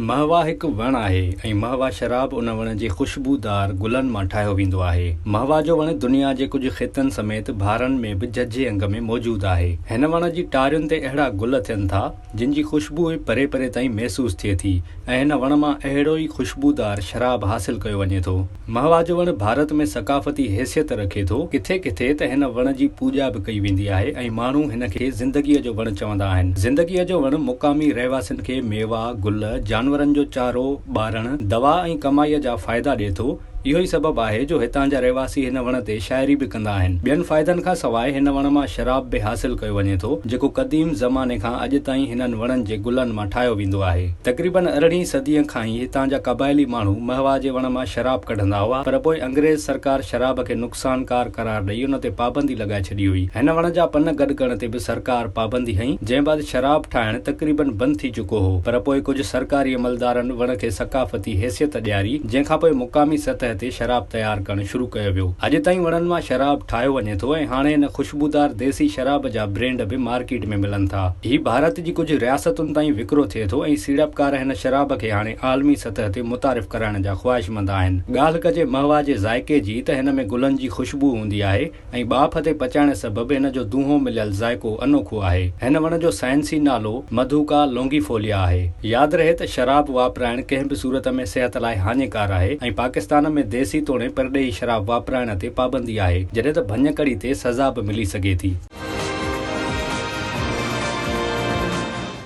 مهوا هڪ وڻ آهي ۽ مهوا شراب ان وڻ جي خوشبودار گلن مان ٺاهيو ويندو آهي. مهوا جو وڻ دنيا جي ڪجهه خطن سميت بهارن ۾ به ججهي انگ ۾ موجود آهي. هن وڻ جي ٽارين تي اهڙا گل ٿين ٿا، جن جي خوشبوء پري پري تائين محسوس ٿئي ٿي ۽ هن وڻ مان اهڙو ئي خوشبودار شراب حاصل ڪيو وڃي ٿو. مهوا جو وڻ ڀارت ۾ ثقافتي حيثيت رکي ٿو. ڪٿي ڪٿي ته هن وڻ جي پوڄا به ڪئي ويندي آهي ۽ ماڻهو هن کي زندگيء جو وڻ چوندا آهن. زندگيء جو وڻ مقامي رهواسين کي ميوا، گل، جانورن جو چارو، ٻارڻ، دوا ۽ ڪمائيء جا فائدا ڏئي ٿو. اهو ئي سبب آهي جو هتان جا رهواسي هن وڻ تي شاعري به ڪندا آهن. ٻين فائدن کان سواء هن وڻ مان شراب به حاصل ڪيو وڃي ٿو، جيڪو قديم زماني کان اڄ تائين هنن وڻن جي گلن مان ٺاهيو ويندو آهي. تقريبن ارڙهين صديء کان ئي هتان جا قبائلي ماڻهو مهوا جي وڻ مان شراب ڪڍندا هئا پر پوء انگريز سرڪار شراب کي نقصانڪار قرار ڏئي ان تي پابندي لڳائي ڇڏي هئي. هن وڻ جا پن گڏ ڪرڻ تي به سرڪار پابندي هنئي جنهن بعد شراب ٺاهڻ تقريباً بند ٿي چڪو هو پر پوء ڪجهه سرڪاري عملدارن وڻ کي ثقافتي حيثيت ڏياري جنهن کان پوء مقامي سطح تي شراب تيار ڪرڻ شروع ڪيو ويو. اڄ تائين وڻن مان شراب ٺاهيو وڃي ٿو ۽ هاڻي هن خوشبودار ديسي شراب جا برينڊ به مارڪيٽ ۾ ملن ٿا. هي ڀارت جي ڪجهه رياستن تائين وڪرو ٿئي ٿو ۽ سيڙپڪار هن شراب کي هاڻي عالمي سطح تي متعارف ڪرائڻ جا خواهشمند آهن. ڳالهه ڪجي مهوا جي ذائقي جي ته هن ۾ گلن جي خوشبوء هوندي آهي ۽ ٻاڦ تي پچائڻ سبب هن جو دونهون مليل ذائقو انوکو آهي. هن وڻ جو سائنسي نالو مڌوڪا لونگيفوليا آهي. ياد رهي ته شراب واپرائڻ ڪنهن به صورت ۾ صحت لاء هاڃيڪار آهي ۽ پاڪستان ۾ ديسي توڻي پرڏيهي شراب واپرائڻ تي پابندي آهي جڏهن ته ڀڃڪڙي تي سزا به ملي سگهي ٿي.